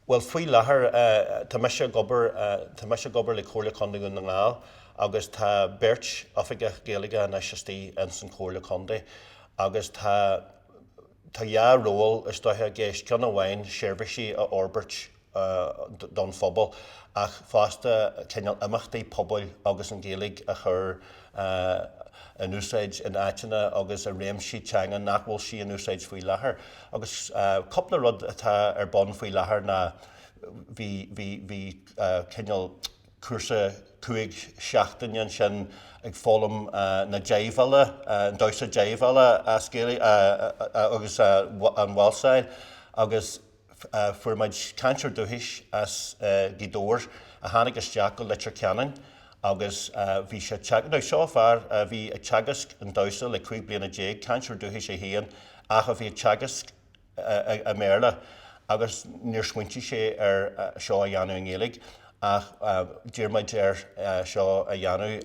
Bhuel faoi láthair tá mise ag obair, tá mise ag obair le Comhairle Contae Dhún na nGall agus tá beirt Oifigeach Gaeilge anois istigh ins an Chomhairle Contae agus tá, tá dhá ról is dócha i gceist, ceann amháin seirbhísí a fhorbairt don phobal ach fosta cineál imeachtaí pobail agus an Ghaeilge a chur in úsáid in áiteanna agus i réimsí teanga nach bhfuil sí in úsáid faoi láthair. Agus cúpla rud atá ar bun faoi láthair ná bhí, bhí, bhí cineál cúrsa cúig seachtaine ansin ag foghlaim na jive-ála, an damhsa jive-ála as Gaeilge agus an Waltz-áil agus, Fuair muid cainteoir dúchais as Gaoth Dobhair a tháinig isteach go Leitir Ceanainn agus bhí sé ag Now seo fear a bhí ag teagasc an damhsa le cúig bliana déag, cainteoir dúchais é féin ach a bhí ag teagasc i mBéarla agus níor smaointigh sé ar seo a dhéanamh i nGaeilge ach d'iarr muid air seo a dhéanamh.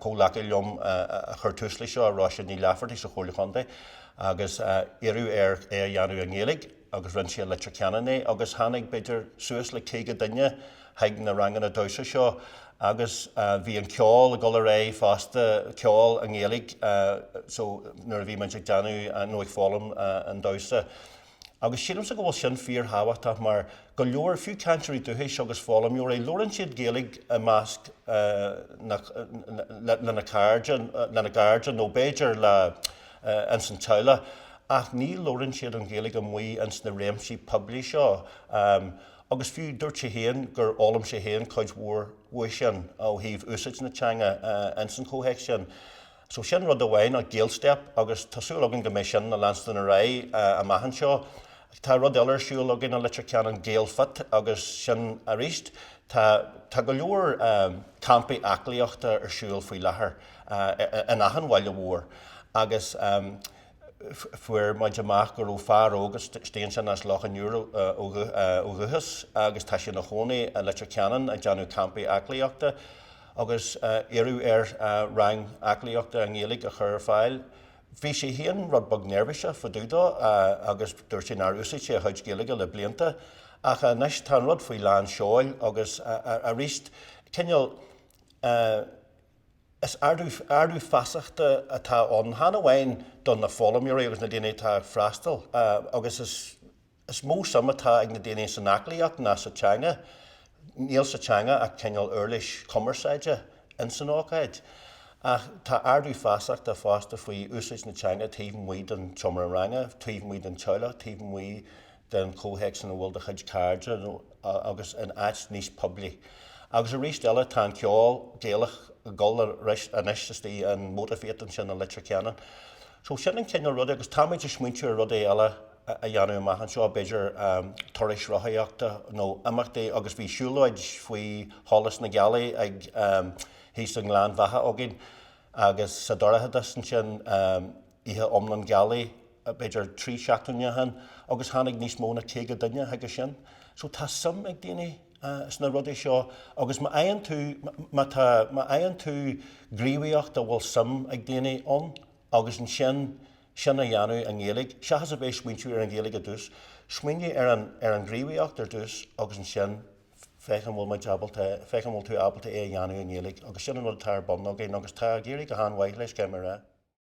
Comhghleacaí liom a chuir tús le seo, Róise Ní Laifeartaigh sa Chomhairle Chontae agus iarradh air é a dhéanamh i nGaeilge. agus rinne sé i Leitir Ceanainn é agus tháinig b'fhéidir suas le caoga duine chuig na ranganna damhsa seo agus bhí an ceol ag dul ar aghaidh fosta, ceol i nGaeilge so nuair a bhí muid ag déanamh nó ag foghlaim an damhsa agus sílimse go bhfuil sin fíor thábhachtach mar go leor, fiú cainteoirí dúchais agus foghlaimeoirí, labhrann siad Gaeilge i measc le lena gcairde nó b'fhéidir le. ins an teaghlach, ach ní labhrann siad an Ghaeilge amuigh ins na réimsí poiblí seo. Agus fiú, dúirt sé féin gur fhoghlaim sé féin cuid mhór uaidh sin, ó thaobh úsáid na teanga ins an chomhthéacs sin. So sin rud amháin, an Gael Step, agus tá súil againn go mbeidh sin ag leanstan ar aghaidh amach anseo. Tá rud eile ar siúl againn i Leitir Ceanainn, Gael Fit, agus sin aríst, tá go leor campaí aclaíochta ar siúl faoi láthair. in achan bhaile mhór agus fuair muid amach go raibh fear óg istigh ansin as Loch an Iúir ó dhúchas agus tá sé ina chónaí i Leitir Ceanainn ag déanamh campaí aclaíochta agus iarradh air rang aclaíochta i nGaeilge a chur ar fáil. Bhí sé féin rud beag neirbhíseach fá dtaobh dó agus dúirt sé nár úsáid sé a chuid Gaeilge le blianta ach anois tá an rud faoi lán seoil agus aríst cineál eh, Is ardú feasachta atá ann, chan amháin do na foghlaimeoirí agus na daoine atá ag freastal, agus is mó suim atá ag na daoine san aclaíocht ná sa teanga, níl sa teanga ach cineál uirlis chumarsáide ins an ócáid, ach tá ardú feasachta fosta faoi úsáid na teanga taobh amuigh den tseomra ranga, taobh amuigh den teaghlach, taobh amuigh den chomhthéacs ina bhfuil do chuid cairde agus in áit níos poiblí. Agus arís eile, tá an ceol Gaelach ag dul ar ais anois istigh in Mote Theatre sin i Leitir Ceanainn. So sin an cineál ruda agus táimid ag smaointiú ar rudaí eile a dhéanamh amach anseo, b'fhéidir turais rothaíochta nó imeachtaí agus bhí siúlóid faoi sholas na gealaí ag thíos i nGleann Bheatha againn agus sa dorchadas ansin. Oíche iomlán gealaí, b'fhéidir trí seachtaine ó shin, agus tháinig níos mó ná caoga duine chuige sin. So tá suim ag daoine sna rudaí seo agus má tá, má fhaigheann tú gníomhaíocht a bhfuil suim ag daoine ann agus ansin sin a dhéanamh i nGaeilge, seachas a bheith ag smaointiú ar an Ghaeilge ar dtús, smaoinigh ar an, ar an ngníomhaíocht ar dtús agus ansin féach an bhfuil muid ábalta, féach an bhfuil tú ábalta é a dhéanamh i nGaeilge agus sin an rud atá ar bun againn agus tá ag éirí go han-mhaith leis, caithfidh mé a rá.